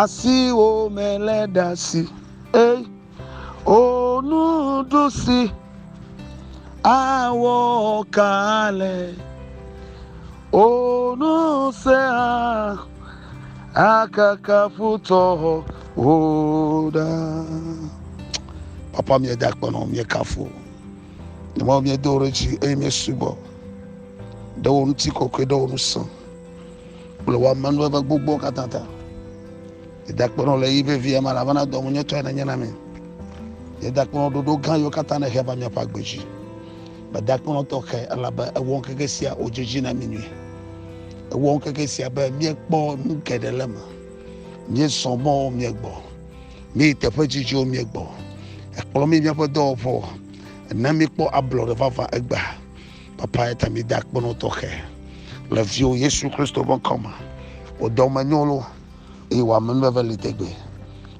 Asiwo me le ɖasi, ei, o nuɖusi, awɔ kalɛ, o nusea, akaka futɔ o ɖa. Papa mieda kpɔnɔ miekafu, nyemɔ miedo ɖe dzi eye miesubɔ ɖe wo ŋuti kɔkɔe ɖe wo ŋusẽ. Wole wɔ ame nuveve gbogbo katã ta. Edakpenɔ le yi vevie me elabena dɔwunyetɔe nenye na mi. Nye dakpenɔ ɖoɖo gã yiwo katã nèhe va miaƒe agbe dzi. Medakpenɔ tɔxɛ elabe ewɔ ŋkeke sia wòdze dzi na mi nyuie. Ewɔ ŋkeke sia be miekpɔ nu geɖe le eme. Miezɔ mɔwo miegbɔ. Mieyi teƒe dzidziwo miegbɔ. Ekplɔ mi míaƒe dɔwɔƒewo. Ena míekpɔ ablɔɖe vavã egbea. Papa ya ta mi da kpɔnɔ tɔxɛ le viwo Yesu Kristo ƒe ŋkɔ me. Wò dɔmenyo lo eye wò amenuveve li tegbee.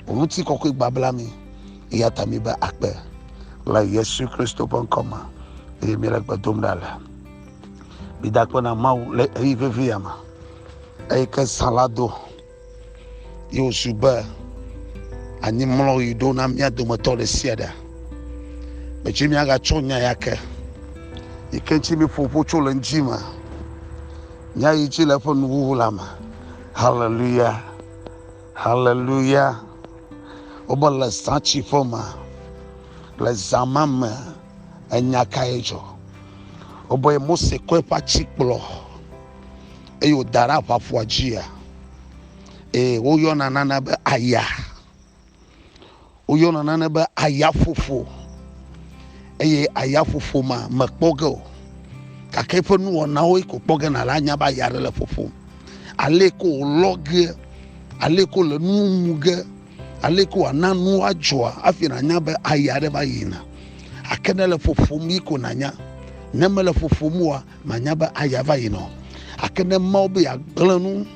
Wò ŋuti kɔkɔe gbabla mi eya ta mi be akpe le Yesu Kristo ƒe ŋkɔ me eye mi le gbe dom ɖa le. Mi da kpɔnɔ Mawu le eyi vevi ya me eye ke zã la do. Ye wòzu be anyimlɔɣi ɖo na mía dometɔ ɖe sia ɖe. Medzi míagatsɔ nya ya ke yi ke ŋuti míeƒo ƒo tso le ŋdi me. Nya yi dzi le eƒe nuwuwu la me. Haleluya! Haleluya! Wobe le zãtsiƒe me, le zã ma me, enya kae dzɔ? Wobe Mose kɔ eƒe atsi kplɔ eye wòda ɖe aʋaƒua dzia? Ee, woyɔna nane be aya. Woyɔna nane be ayaƒoƒo eye ayaƒoƒo ma mekpɔ ge o gake eƒe nuwɔnawo ko kpɔ ge na la anya be aya aɖe le ƒoƒom. Ale ko wòlɔ ge, ale ko le nuwo mu ge, ale ko wòana nuwo adzɔa hafi nànya be aya aɖe va yina. Ake ne le ƒoƒom yi ko nànya, ne mele ƒoƒom oa, Manya be aya va yina o. Ake ne Mawu be yeagblẽ nu,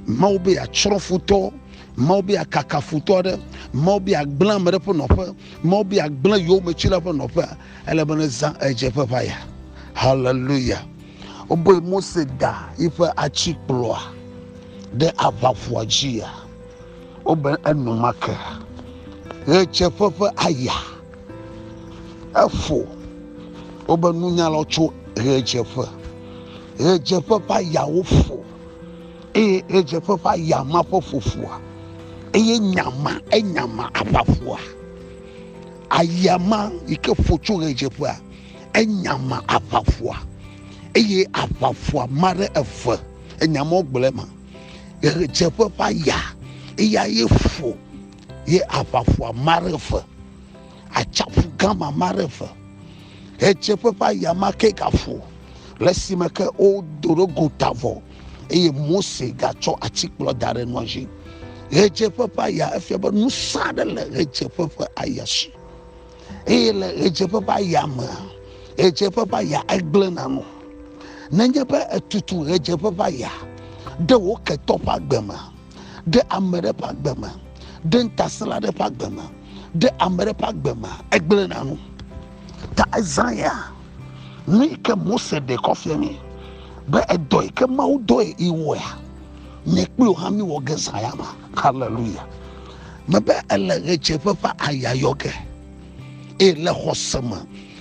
Mawu be yeatsrɔ̃ futɔ, Mawu be yeakaka futɔ aɖe, Mawu be yeagblẽ ame ɖe ƒe nɔƒe, Mawu be yeagblẽ yowometsila ƒe nɔƒea, ele be nezã ɣedzeƒeʋaya. Haleluya! Wobe Mose da yiƒe atikplɔa ɖe aʋaƒua dzia, wobe enumake ɣedzeƒe ƒe aya. Efo wobe nunya lɔ tso ɣedzeƒe. Ɣedzeƒe ƒe ayawo fo eye ɣedzeƒe ƒe aya ma ƒe fofoa eye nyama enyama aʋafoa. Aya ma yi ke fo tso ɣedzeƒea enyama aʋafoa eye aʋafoa ma ɖe eve enyama wogblẽ ma. Ɣedzeƒe ƒe aya eya ye fo. ye aʋaƒua ma ɖe eve, atsaƒu gã ma ma ɖe eve, ɣedzeƒe ƒe aya ma ke gaƒo, le esime ke wodo ɖe gota vɔ, eye Mose gatsɔ atikplɔ da ɖe nua dzi. Ɣedzeƒe ƒe aya, efia be nusẽ aɖe le ɣedzeƒe ƒe aya si. Eye le ɣedzeƒe ƒe aya mea, ɣedzeƒe ƒe aya egblẽna nu. Nenye be etutu ɣedzeƒe ƒe aya ɖe wo ketɔ ƒe agbe me ɖe ame ɖe ƒe agbe me, ɖe ŋutasẽla ɖe ƒe agbe me, ɖe ame ɖe ƒe agbe me, egblẽ na nu. Ta Isaiah, nu yi ke Mose ɖe kɔ fia mi be edɔ yi ke Mawu dɔe yi wɔea, nye kpli wò hã mi wɔ ge zã ya ma. Hallelujah. Mebe ele ɣedzeƒe ƒe aya yɔ ge, eye le xɔse me,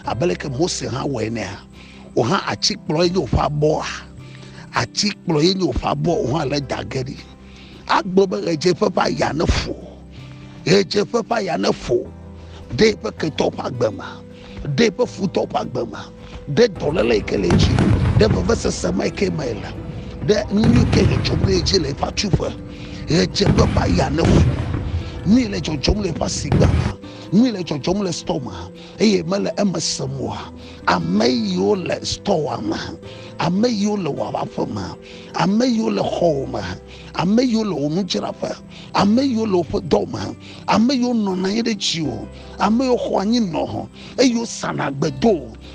abe leke Mose hã wɔe nea, wò hã atikplɔ ye nye woƒe abɔa atikplɔ ye nye woƒe abɔ wò hã le dage ɖi agblɔ be ɣedzeƒe ƒe aya ne fo ɣedzeƒe ƒe aya ne fo ɖe eƒe ketɔ ƒe agbe me ɖe eƒe futɔ ƒe agbe me ɖe dɔléle yi ke le edzi ɖe vevesese ma yi ke me le ɖe nu yi ke le dzɔm ɖe edzi le eƒe atuƒe ɣedzeƒe ƒe aya ne fo nu yi le dzɔdzɔm le eƒe asigba me nu yi le dzɔdzɔm le stɔ me eye mele eme sem oa? Ame yiwo le stɔwa me, ame yiwo le wò aƒe me, ame yiwo le xɔwò me, ame yiwo le wò nudzraƒe, ame yiwo le woƒe dɔ me, ame yiwo nɔna anyi ɖe dziwò, ame yiwo xɔ anyi nɔ eye wosana gbedo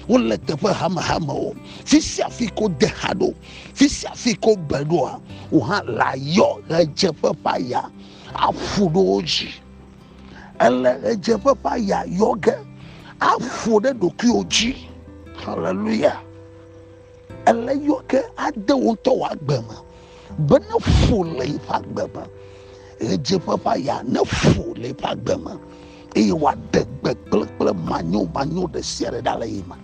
wole teƒe hamehame o. Fi sia fi ko de ha ɖo, fi sia fi ko be ɖoa, wò hã layɔ ɣedzeƒe ƒe aya aƒu ɖe wo dzi. Ele ɣedzeƒe ƒe aya yɔ ge aƒo ɖe ɖokuiwò dzi. Haleluya. Ele yɔ ge ade wò ŋutɔ wò agbe me be ne ƒo le eƒe agbe me. Ɣedzeƒe ƒe aya ne ƒo le eƒe agbe me eye wòaɖe gbe kplekple manyo manyo ɖe sia ɖe ɖa le yi me.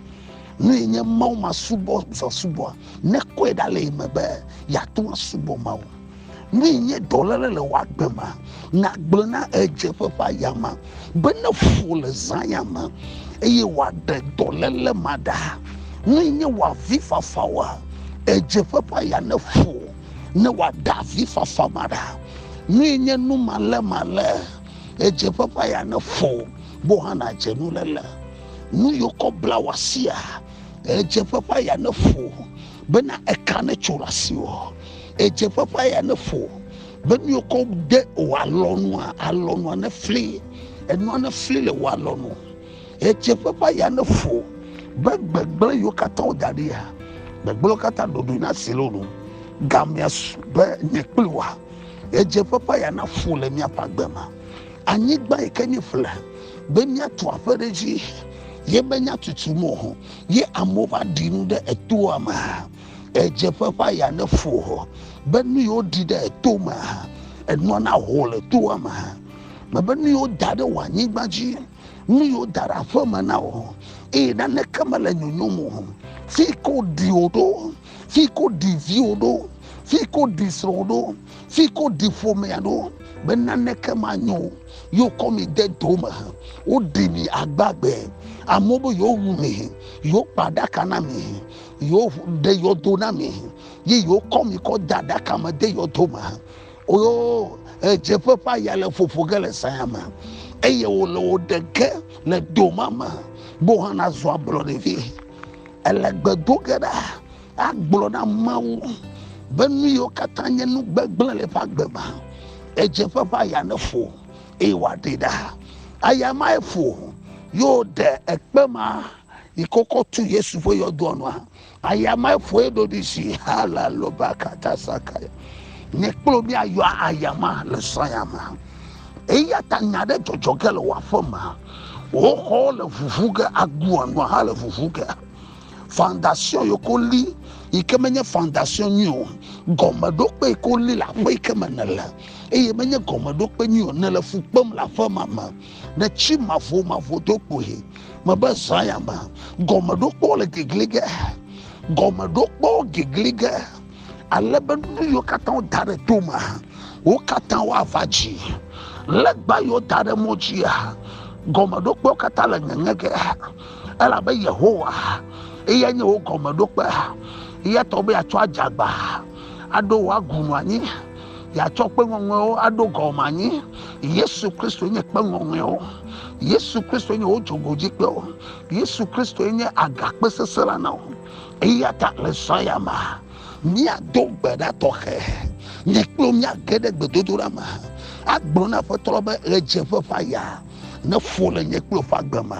Nu yi nye Mawu masubɔ zã subɔa, nekɔe ɖa le yi me be yeate ŋu asubɔ Mawu. ne nye dɔlele le wagbe ma nagblẽ na edzeƒe ƒe ayama be ne fu le zãya me eye wòaɖe dɔlele ma ɖa ne nye wòavi fafa wa edzeƒe ƒe aya ne fu ne wòaɖe avi fafa ma ɖa ne nye nu malé malé edzeƒe ƒe aya ne fu bo hã nadze nu lele nu yiwo kɔ bla wɔ asia edzeƒe ƒe aya ne fu bena eka ne tso le asiwɔ Edze ƒaƒã ya ne fo be nu yokɔ de o alɔnua alɔnua ne fli enua ne fli le wo alɔnu. Edze ƒaƒã ya ne fo be gbegblẽ yiwo katã woda ɖi ya gbegblẽ katã ɖoɖoe na si lonu gamea su be nye kpli wa. Edze ƒaƒã ya na fo le miaƒe agbe ma. Anyigba yi ke miƒle be miatu aƒe ɖe dzi ye be nyatutu mo ye amewo va ɖi nu ɖe etoa me. Ɣedzeƒe ƒe aya ne fo hɔ be nu yiwo ɖi ɖe eto me hã enɔ na ho le toa me hã. Mebe nu yiwo da ɖe wò anyigba dzi, nu yiwo da ɖe aƒe me na wò, eye naneke mele nyonyom o. Fi ke woɖi wò ɖo, fi ke woɖi viwò ɖo, fi ke woɖi srɔ̃wò ɖo, fi ke woɖi ƒomea ɖo, be naneke manyo o. Ye wokɔ mi de do me, woɖi mi agbagbe. Amewo be yewowu mi, yewokpa ɖaka na mi. yewo ɖe yɔdo na mi ye yewo kɔ mi kɔ da ɖaka me de yɔdo me oyo edzeƒe ƒe aya le ƒoƒo ge le saya me eye wòle wò ɖe ge le doma me bo hã nazɔ ablɔ ɖevi ele gbe do ge ɖa agblɔ na mawu be nu yiwo katã nye nu gbegblẽ le eƒe agbe me edzeƒe ƒe aya ne fo eye wòaɖe ɖa aya mae fo yewo ɖe ekpe ma yi kɔkɔ tu yesu ƒe yɔdoa nua ayamae ƒoe ɖoɖi si ha la loba kata saka ne kplo mi ayɔ ayama le sɔyama eya ta nya ɖe dzɔdzɔ ge le wɔaƒe ma wo xɔ le vuvu ge agua nua ha le vuvu ge fondation yoko li yi ke menye fondation nyui o gɔmeɖokpe yi ke woli le aƒe yi ke me ne le eye menye gɔmeɖokpe nyui o ne le fu kpem le aƒe ma me ɖe tsi mavomavo do kpuie mebe zã ya me gɔmeɖokpɔ le gegli ge gɔmeɖokpɔ gegli ge ale be nu yiwo katã woda ɖe to me wo katã woava dzi legba yiwo da ɖe mo dzia gɔmeɖokpewo katã le ŋeŋe ge elabe yehowa eya nye wo gɔmeɖokpe eya tɔ be yeatsɔ adzagba aɖo wo agu nu anyi yɛatsɔ kpe ŋɔŋɔewo aɖo gɔme anyi yesu kristo nye kpe ŋɔŋɔewo yesu kristo nye wo dzogodzikpewo yesu kristo nye agakpe sesẽ la na wo eya ta le zɔ ya me míado gbe ɖa tɔxɛ nye kple míage ɖe gbedodoɖa me agblɔ na aƒetɔ be ɣedzeƒe ƒe aya neƒo le nye kple ƒe agbe me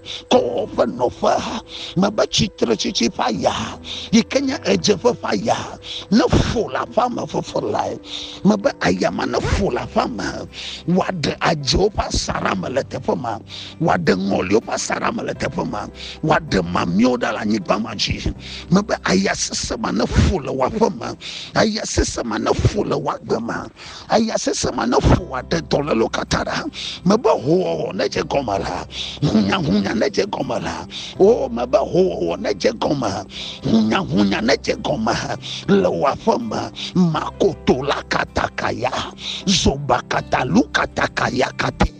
kɔ woƒe nɔƒe mebe tsitretsitsi ƒe aya yi ke nye ɣedzeƒe ƒe aya neƒo le aƒea me fefe lae mebe aya ma neƒo le aƒea me wòaɖe adzowo ƒe asaɖa me le teƒe ma wòaɖe ŋɔliwo ƒe asaɖa me le teƒe ma wòaɖe mamlɛwo ɖa le anyigba ma dzi mebe aya sesẽ ma neƒo le wòaƒe me aya sesẽ ma neƒo le wòagbe ma eya sesẽ ma neƒo wòaɖe dɔlélo katã ɖa. Mebe hoowɔwɔ nedze gɔme la, hunyahunya nedze gɔme la. O, mebe hoowɔwɔ nedze gɔme, hunyahunya nedze gɔme le wò aƒe me. Makoto la katakaya, zoba katalu katakaya kate.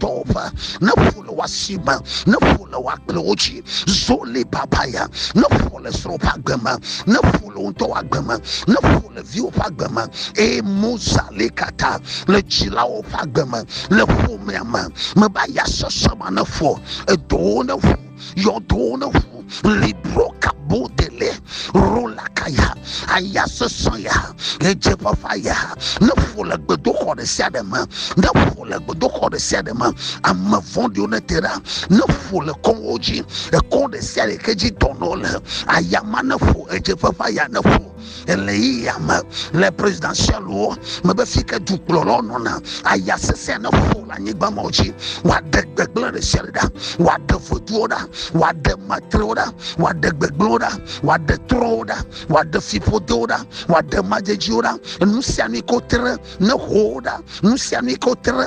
tɔwo ƒe ne ƒo le wasi me ne ƒo le wakplewo dzi zoli babaya ne ƒo le srɔ̃ ƒe agbe me ne ƒo le ŋutɔ ƒe agbe me ne ƒo le viwo ƒe agbe me eye mozali kata le dzilawo ƒe agbe me le ƒomea me meba ya sese ma ne ƒo edowo ne ƒo yɔdowo ne ʋu libro kabo dele rola kaya aya sesɔ ya edze fafa ya ne ƒo le gbedoxɔ ɖe sia ɖe me ne ƒo le gbedoxɔ ɖe sia ɖe me ame vɔ̃ɖiwo ne te ɖa ne ƒo le kɔwo dzi ekɔ ɖe sia ɖe ke dzi dɔnɔ le aya ma ne ƒo edze fafa ya ne ƒo Ɣeyiɣia me le presidentialwo mebe fike dukplɔlawo nɔna aya sesẽ ne ƒo le anyigba mawo dzi wòaɖe gbegblẽ ɖe sia ɖe ɖa wòaɖe vodzuwo ɖa wòaɖe matrewo ɖa wòaɖe gbegblẽwo ɖa wòaɖe trɔwo ɖa wòaɖe fiƒodewo ɖa wòaɖe madzedziwo ɖa nu sia nu yi ke wotre ne ƒo wo ɖa nu sia nu yi ke wotre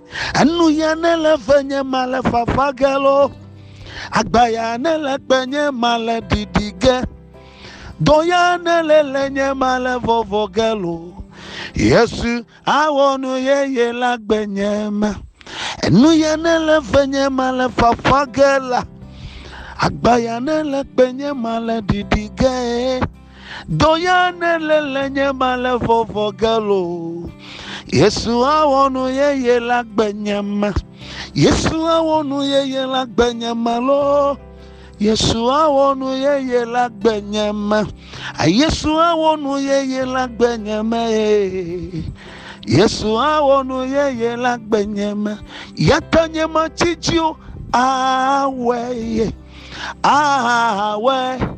Enu ya ne le ve nye ma le fafa ge lo, agba ya ne le kpe nye ma le ɖiɖi ge, dɔ ya ne le le nye ma le vɔvɔ ge lo. Yesu awɔ nu yeye la gbe nye ma. Enu ya ne le ve nye ma le fafa ge la, agba ya ne le kpe nye ma le ɖiɖi ge. Dɔya ne le le nye ma le vɔvɔ gelo. Yesu awɔ nu yeye la gbe nye ma. Yesu awɔ nu yeye la gbe nye ma lo. Yesu awɔ nu yeye la gbe nye ma. Yesu awɔ nu yeye la gbe nye ma ye. Yesu awɔ nu yeye la gbe nye ma. Yata nye ma tsitsiwo awɛ ye. Awɛ.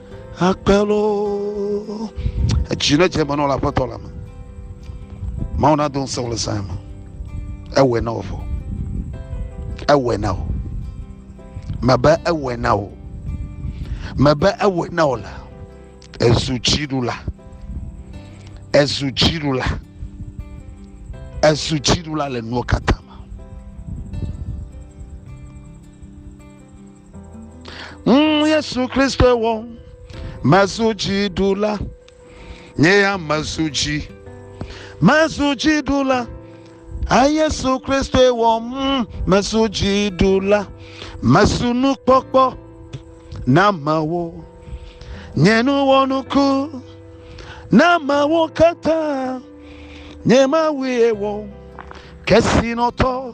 Akpelo edzi ne dze me nɔ le aƒetɔ la me. Mawu na do ŋusẽ le sãe me. Ewɔe na wò fɔ. Ewɔe na wò. Mebe ewɔe na wò. Mebe ewɔe na wò la. Ezu dziɖula. Ezu dziɖula. Ezu dziɖula le nuwo katã. Mm, Yesu Kristoe wɔ mezu dziɖula. Nye ya mezu dzi. Mezu dziɖula. A Yesu Kristoe wɔ mm, mezu dziɖula. Mezu nukpɔkpɔ na amewo. Nye nu wɔ nuku na amewo katã. Nye Mawue wɔ kesinɔtɔ.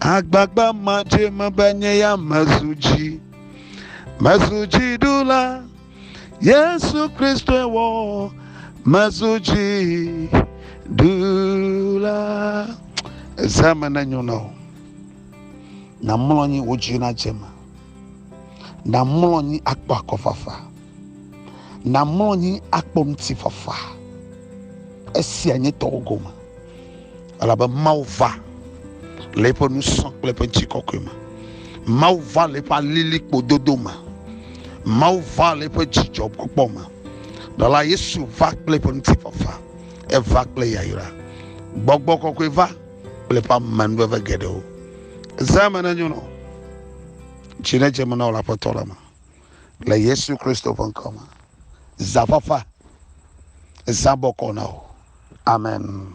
Agbagba madze eme be nye ya mezu dzi. Mezu dziɖula, Yesu Kristoe wɔ mezu dziɖula. Eze me nenyo na wò. Namlɔ anyi wò dzi nadze eme. Namlɔ anyi akpɔ akɔfafa. Nàmlɔ anyi akpɔ ŋutifafa. Esia nye tɔwò gome, elabe Mawu va le eƒe ŋusẽ kple eƒe ŋutikɔkɔe me. Mawu va le eƒe alilikpododo me. Mawu va le eƒe dzidzɔkpɔkpɔ me. Ɖela Yesu va kple eƒe ŋutifafa. Eva kple yayra. Gbɔgbɔ kɔkɔe va kple eƒe amenuveve geɖewo. Zã me nenyo na wò. Dzi nedze me na wò le Aƒetɔ la me. le Yesu Kristo ƒe ŋkɔ me. Zã fafa, zã bɔkɔ na wò. Amen.